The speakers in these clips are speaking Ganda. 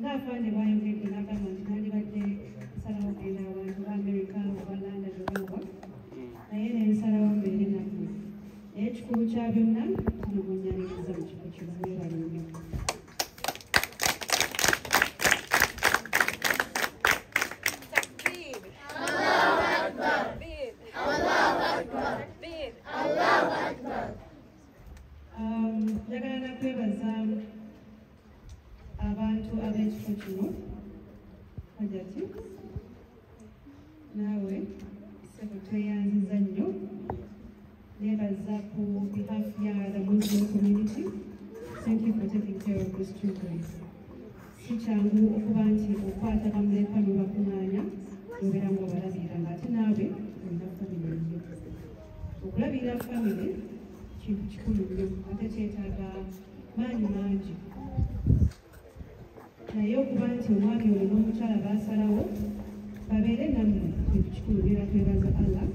ng'afande bwayogedde n'agamba nti nandibadde nsalawo kugenda abantu ba amerika oba london obawa naye ne nsalawo mbeere nammwe naye ekikulu kya byonna kino munyaniriza mu kifo kino mwebale nnyo abantu ab'ekifo kino hajati naawe sebo tweyanziza nnyo nebaza ku behalf ya the muslim community thank you for taking care of these children si kyangu okuba nti okwata bamuleka nobakuŋanya nobeera nga obalabirira nga ate naawe olina famire yo okulabirira famire kintu kikulu nnyo ate kyetaaga maanyi mangi naye okuba nti omwami oyo n'omukyala baasalawo babeere nammwe kintu kikulu era twebaza allah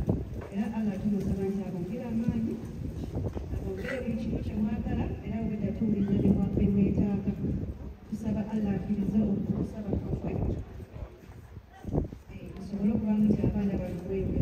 era allah tumusaba nti abongere amaanyi abongere buli kimu kye mwagala era bweda tuwuliriza byemwetaaga tusaba allah akiriza okusaba kwaffe eh, tusobole okubamu nti abaana bano bwebyo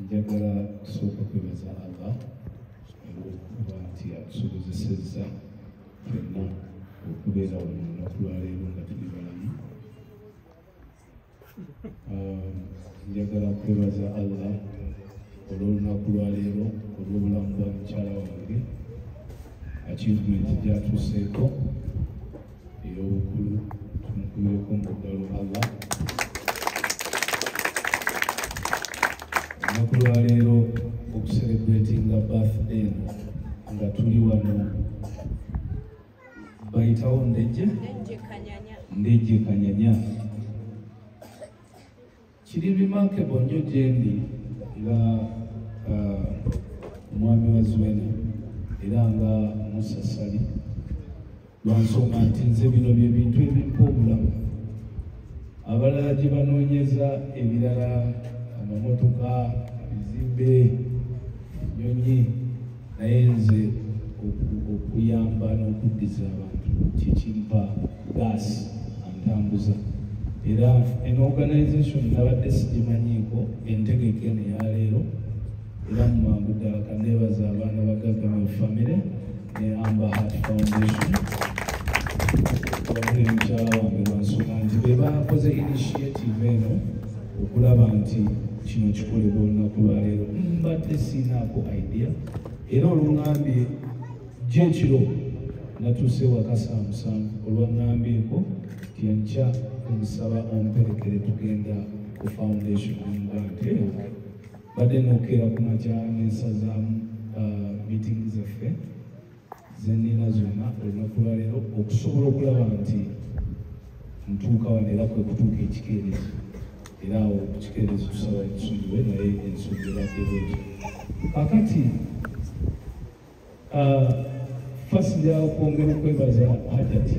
njagala kusooka kwebaza allah olwokuba nti atusobozesezza fenna okubeera wano olunaku lwaleero nga tuli balamu um, njagala kwebaza allah olwolunaku lwaleero olwobulamu bwa mukyala wange achievement gyatuuseeko ey'obukulu tumukubireko mu ddalo allah olunaku lwaleero okuserebretinga birthday eno nga tuli wano bayitawo ndejje ndejje kanyanya kiri remarkable nnyo gyendi nga uh, omwami wa zuena era nga musasali lwansonga nti nze bino bye bintu ebimpa obulamu abalala gye banoonyeza ebirala amamotoka ebizimbe enyonyi naye nze okuyamba n'okuddiza abantu kyekimpa gaasi antambuza era en organization nabadde sigimanyiiko entegeke neyaleero era mu mangu ddala kaneebaza abaana ba gavamenti famire ne amba heart foundation wabuli mukyala wange lwansonga nti be bakoze initiative eno okulaba nti kino kikolebwa olunaku lwaleero mbadde siinaako idea era olungambye gyekiro natuuse waka saa musanvu olwangambyeko nti enkya omusaba omperekere tugenda ku foundation omugante badde nokeera ku makya nensazaamu uh, meeting zaffe zenina zonna olunaku lwaleero okusobola okulaba nti ntuuka wano era kwe kutuuka ekikeerezi era awo ekikeerezi tusaba tusonyiwe naye ensonga ebaddeko ekyo kakati ah, fasi lyakwongera okwebaza hajati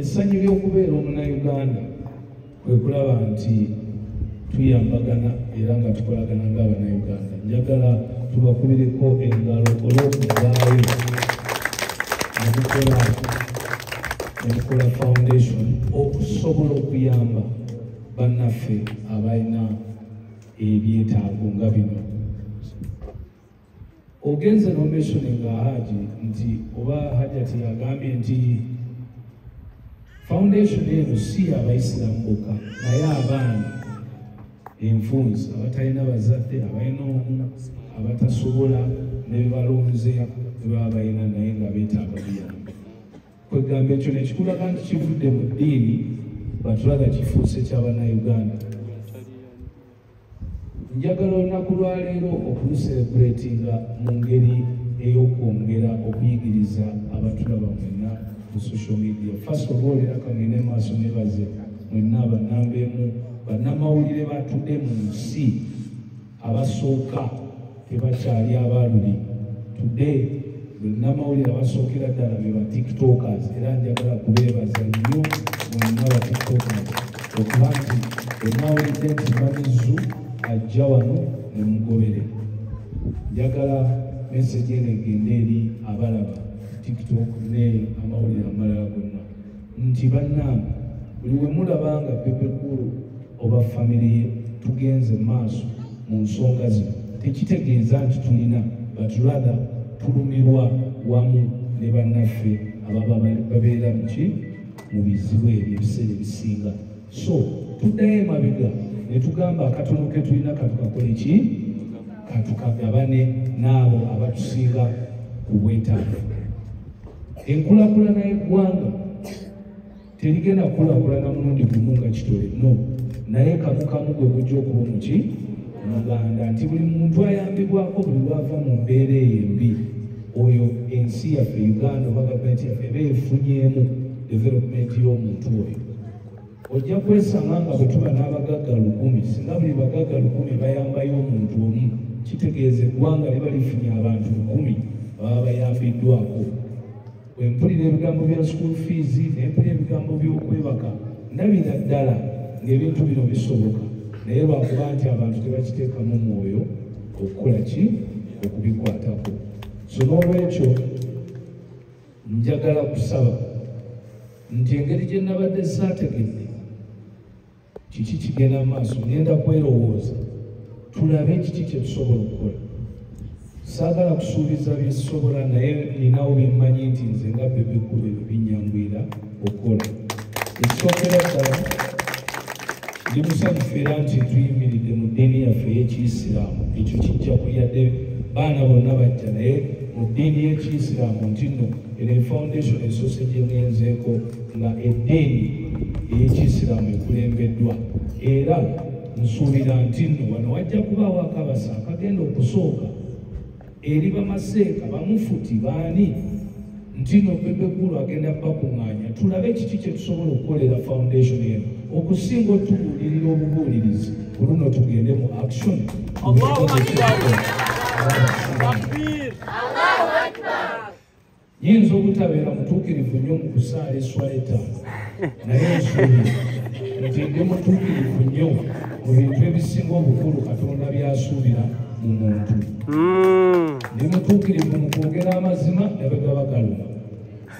Essanyu ly'okubeera omunayuganda kwe kulaba nti tuyambagana era nga tukolagana ng'abanayuganda. Njagala tubakubireko engalo olw'okuvaayo ne mukola ne mukola foundation okusobola okuyamba bannaffe abalina ebyetaago nga bino. ogenze nomeshone nga haji nti oba hajati agambye nti foundation eno si abaisiramu boka naye abaana enfunzi abatalina bazadde abalina omu abatasobola nebebalonze ebaba balina naye nga betaaga buyambi kwegamba ekyo nekikulaga nti kivudde mu ddiini batulaga kifuuse kyabannauganda njagala olunaku lwaleero okuluserebuletinga mu ngeri ey'okwongera okuyigiriza abatulaba mwenna ku social media fast of all era kangende maaso nebaze mwenna banambeemu bannamawulire batudde mu nsi abasooka tebakyali abaaluli today bannamawulire abasookera ddala be ba tiktokers era njagala kubeebaza nnyo mwenna ba tiktokers okuba nti enawulidde nti mamizu ajja wano ne mugobere njagala meseji eno egende eri abalaba tiktok ne amawulire amalala gonna nti bannange buli we mulaba nga bebekulu oba famire ye tugenze maaso mu nsonga zino tekitegeeza nti tulina but rather tulumirwa wamu ne bannaffe ababa babeera muki mu bizibu ebyo ebiseera ebisinga so tuddayo emabega ne tugamba akatono ke tulina katukakole ki katukagabane n'abo abatusinga ku bwetaavu enkulakulana y'eggwanga terigenda kukulakulana mulundi gumu nga kitole no naye kamukamu gwe gujja okuba omuki muganda nti buli muntu ayambibwako buli lwava mu mbeera eyo embi oyo ensi yaffe uganda oba gavumenti yaffe eba efunyeemu development y'omuntu oyo ojja kwesanga nga bwe tuba n'abagagga lukumi singa buli bagagga lukumi bayambayo omuntu omu kitegeeza eggwanga liba lifunye abantu lukumi baba bayambiddwako bwe mpulira ebigambo bya school fees ne mpulira ebigambo by'okwebaka ndabira ddala ng'ebintu bino bisoboka naye lwakuba nti abantu tebakiteekamu mwoyo okukola ki okubikwatako so n'olwekyo njagala kusaba nti engeri gye nabadde saategedde kiki kigenda mu maaso ngenda kwerowooza tulabe kiki kye tusobola okukola saagala kusuubiza byesobola naye ninawo byemmanyi nti nze nga bebekulu ebyo binyangwira okukola ekisookera ddala ndi musanyufu era nti tuyimiridde mu ddiini yaffe ey'ekiyisiraamu ekyo kijja kuyadde baana bonna bajja naye mu ddiini y'ekiyisiraamu nti nno eno efoundation esoose gyegenzeeko nga eddiini ey'ekiyisiraamu ekulembeddwa era nsuubira nti nno wano wajja kubaawo akabasa akagenda okusooka eri bamaseeka bamufuti baani ntino bebekulu agenda bakuŋŋaanya tulabe kiki kye tusobola okukolera foundation eno okusinga otubuulirira obubuulirizi ku luno tugende mu action Yinza obutabeera mutuukirivu nnyo mu kusaala esswala ettaano naye nsuubira nti ndi mutuukirivu nnyo mu bintu ebisinga obukulu katonda byasuubira mu muntu hmm. ndi mutuukirivu mu kwogera amazima ne bwe gaba galuma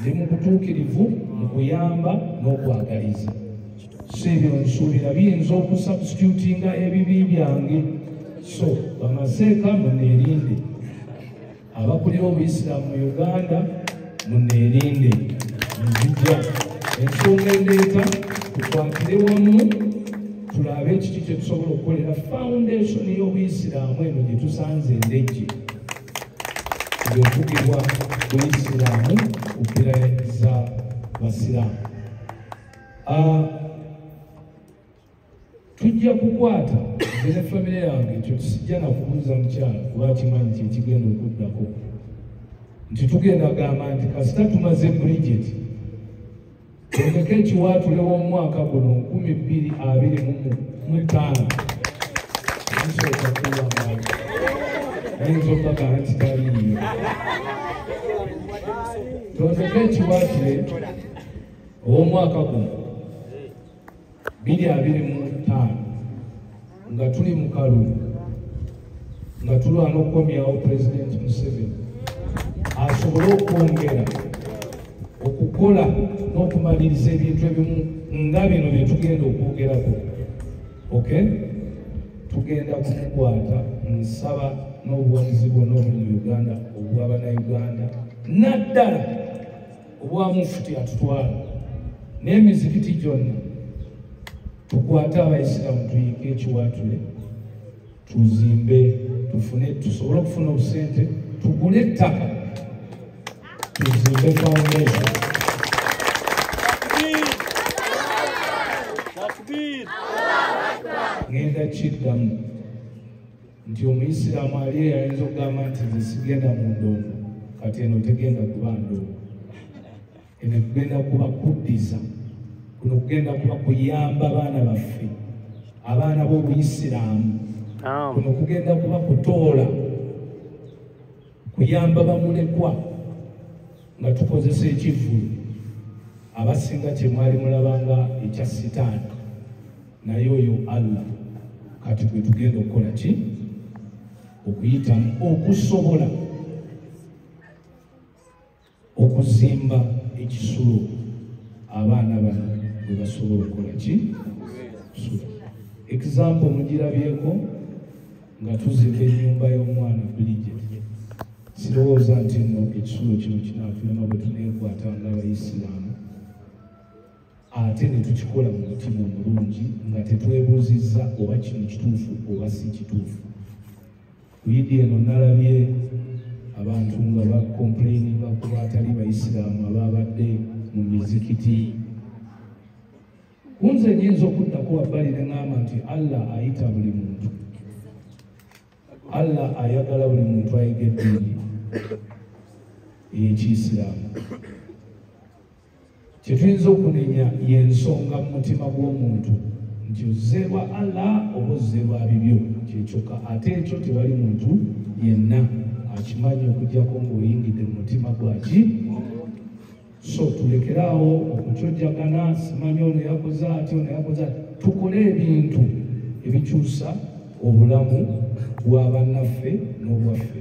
ndi mu butuukirivu mu kuyamba n'okwagaliza si ebyo nsuubira biyinza okusubstitutinga ebibi byange so bamaseeka muneerinde abakulira obuyisiraamu mu uganda muneerinde nzija ensonga endeeta tukwatire wamu tulabe kiki kyetusobola okukolera foundation y'obuyisiraamu eno gye tusanze endejje yokugibwa buyisiraamu ku mpira za basiraamu ah, tujja kukwata nze ne famire yange ekyo tusijja nakubuuza mukyalo kuba kimanyi kyekigenda okuddako nti tugenda gamba nti kasita tumaze bridget tondeka ekiwaatule w'omwaka guno nkumi bbiri abiri mu ttaano nsooka kuwamaali ayinza okubagala nti taliiyo tondeka ekiwaatule ow'omwaka guno biri abiri mu ttaano nga tuli mu kalulu nga tulwana okukomyawo pulezidenti museveni asobole okwongera okukola n'okumaliriza ebintu ebimu nga bino bye tugenda okwogerako ok tugenda kukwata nsaba n'obuwagizi bwonna obuli mu uganda obwa banauganda naddala obwa mufuti atutwala n'emizikiti gyonna tukwate abaisiraamu tuyinke ekiwaatule tuzimbe tufune tusobole okufuna obusente tugule ettaka tuzimbe foundation ngenda kiddamu nti omuyisiraamu ali eyo ayinza okugamba nti nze sigenda mu ndongo kati eno tegenda kuba ndongo eno kugenda kuba kuddiza kuno kugenda kuba kuyamba baana baffe abaana b'obuyisiraamu kuno kugenda kuba kutoola kuyamba bamulekwa nga tukozesa ekivvulu abasinga kyemwali mulabanga ekya sitaani naye oyo allah kati gwe tugenda okukola ki okuyitamu okusobola okuzimba ekisulo abaana bano bwe basobola okukola ki example mugirabyeko nga tuzimba ennyumba y'omwana bulijjo sirowooza nti nno ekisulo kino kinaatulema bwe tuneekwata ng'abayisiraamu ate ne tukikola mu mutima omulungi nga tetwebuuzizza oba kino kituufu oba si kituufu kuyidi eno nalabye abantu nga bakomplaininga ku baatali bayisiraamu abaabadde mu mizikiti kunze nyinza okuddako wabbali ne ŋamba nti allah ayita buli muntu allah ayagala buli muntu ayige eddiini ey'ekiisiraamu kyetuyinza okunenya yensonga mu mutima gw'omuntu nti ozze lwa allah oba ozze lwa bibyo kyekyokka ate ekyo tewali muntu yenna akimanyi okujjako ng'oyingidde mu mutima gwaki so tulekeraawo okukyojjagana simanyi ono yakoze ati ono yakoze ati tukole ebintu ebikyusa obulamu bwa bannaffe n'obwaffe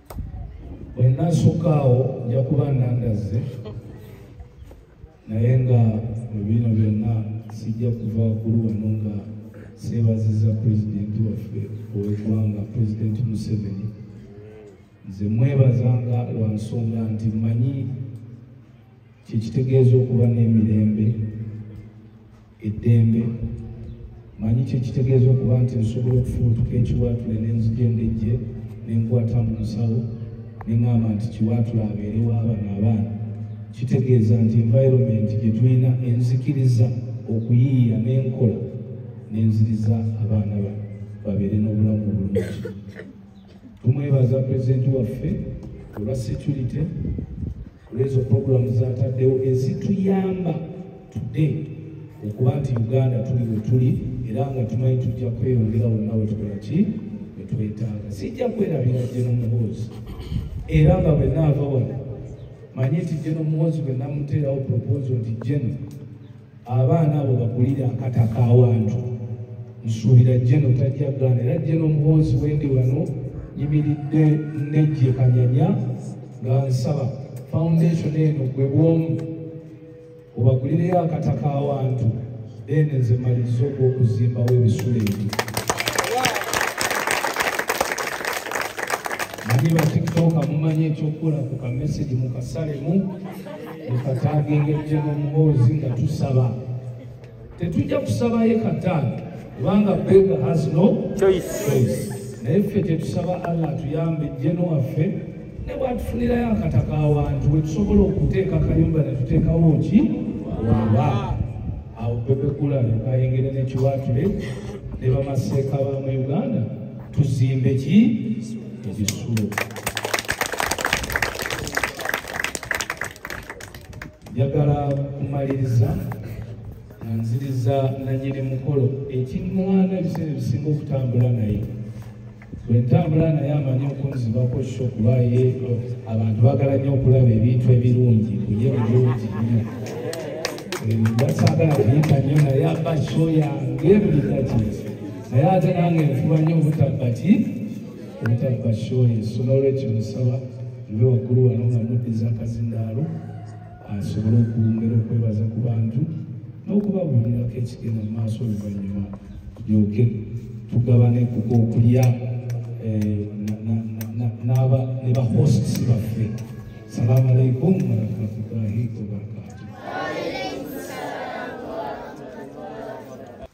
bwenasukaawo nja kuba nandazze naye nga mubiino byonna sijja kuva kulu wano nga seebaziza pulezidenti waffe owegwanga pulezidenti museveni nze mwebazanga lwa nsonga nti mmanyi kyekitegeeza okuba n'emirembe eddembe manyi kyekitegeeza okuba nti nsobola okufubutuka ekiwaatule nenzija endejje nenkwata mu nsawo neŋamba nti kiwaatule abeere waabana abaana kitegeeza nti environment gyetulina enzikiriza okuyiiya n'enkola nenziriza abaana ba babeere n'obulamu obulungi tumwebaza pulezidenti waffe olwa security olwezo puroguramu zataddewo ezituyamba today okuba nti uganda tuli wetuli era nga tumanyi tujja kweyongera wonna wetukola ki wetwetaaga sijja kwerabira jeno muhoozi era nga bwenaava wano manye nti jeno muhoozi bwenamuteerawo proposo nti jeno abaana abo bagulire akata kawantu nsuubira jeno tajja gaana era jeno omuhonzi wendi wano yimiridde nejje kanyanya nga nsaba foundation eno gwe bwomu obagulireyo akata kawantu then nze maliriza ogwokuzimbawo ebisula ebyo manyi batiktoka mumanyi ekyokukola ku kamesegi mukasalemu mukataagengettemu omuboozi nga tusaba tetujja kusabayo kataano kubanga bega has no choice naye ffe tetusaba allah atuyambe jeno waffe ne bwatufunirayo akataka awantu wetusobola okuteeka kayumba netuteekawo ki waba awo bebekula nekayengere nekiwatule ne bamaseeka ba mu uganda tuzimbe ki ebisulo njagala kumaliriza nga nziriza nanyini mukolo ekiŋŋwana ebiseera ebisinga okutambula naye bwe ntambula naye amanyi okunzibako sho kuba ye abantu bagala nnyo okulaba ebintu ebirungi kuye bulungi nnyo basagala kuyita nnyo naye aba sho yange buli kakiri naye ate nange nfuba nnyo obutabba ki obutabba shoyi so n'olwekyo nsaba nve waggulu wano nga muddiza akazindaalo asobole okwongera okwebaza ku bantu n'okubabuulirako ekigenda mu maaso oluvannyuma tulyoke tugabane ku kwokulya eh, n'aba ne bahosts baffe salamu alaikum warahmatullahi wabarakatu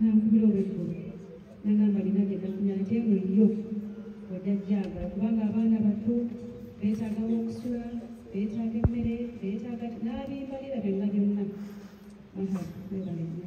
nankubira olweggulo nagamba lina gye nafunye ate eno yo ojja jjagala kubanga abaana bato beetaaga wokusula beetaaga emmere beetaaga n'abimbalira byonna byonna aha webalena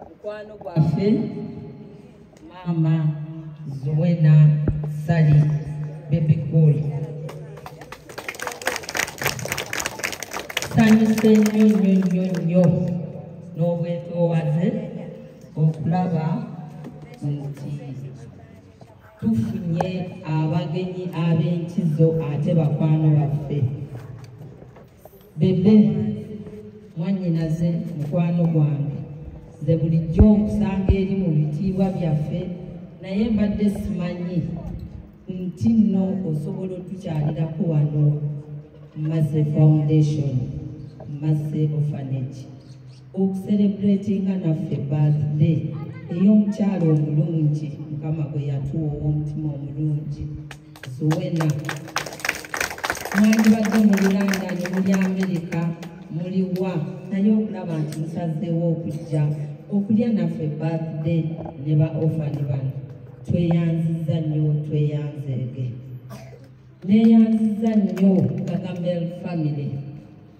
mukwano gwaffe maama zuwena sali bebi cool sanyuse nnyo nnyo nnyo nnyo n'obwetoowaze okulaba nti tufunye abagenyi ab'enkizo ate bakwano baffe bebe mwanyinaze mukwano gwange nze bulijjo okusanga eri mu bitiibwa byaffe naye mbadde simanyi nti nno osobola otukyalirako wano maze foundation maze ofanage okuserebratinga naffe birthday ey'omukyalo omulungi mukama gwe yatuwa ow'omutima omulungi zuwena mwandibadde mu bulandaani muli amerika muli wa naye okulaba nti musazeewo okujja okulya naffe birthday ne ba ofani bano tweyanziza nnyo tweyanzege neyanziza nnyo gagamel family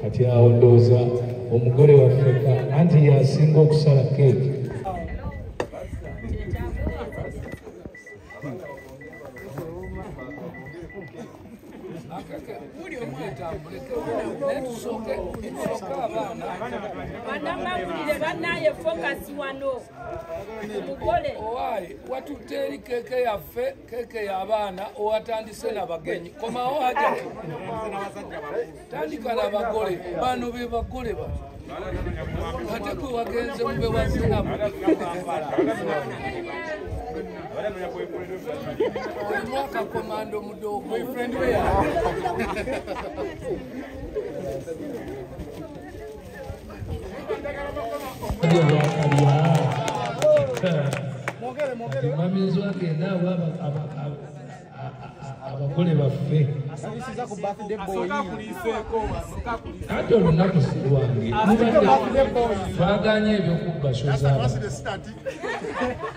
kati awo ndowooza omugole wafeka anti yasinga okusala keeki banamawulire banaye fokasi wano mugole owaye watutte eri keeke yaffe keeke y'abaana owatandise nabagenyi komawo hajati tandika nabagole bano be bagole ba ate gwe wagenze mube wazinamu omwaka komando mudogo omwamizi wagenda awa abagole baffe ate olunaku si lwange twaganye ebyokubashoza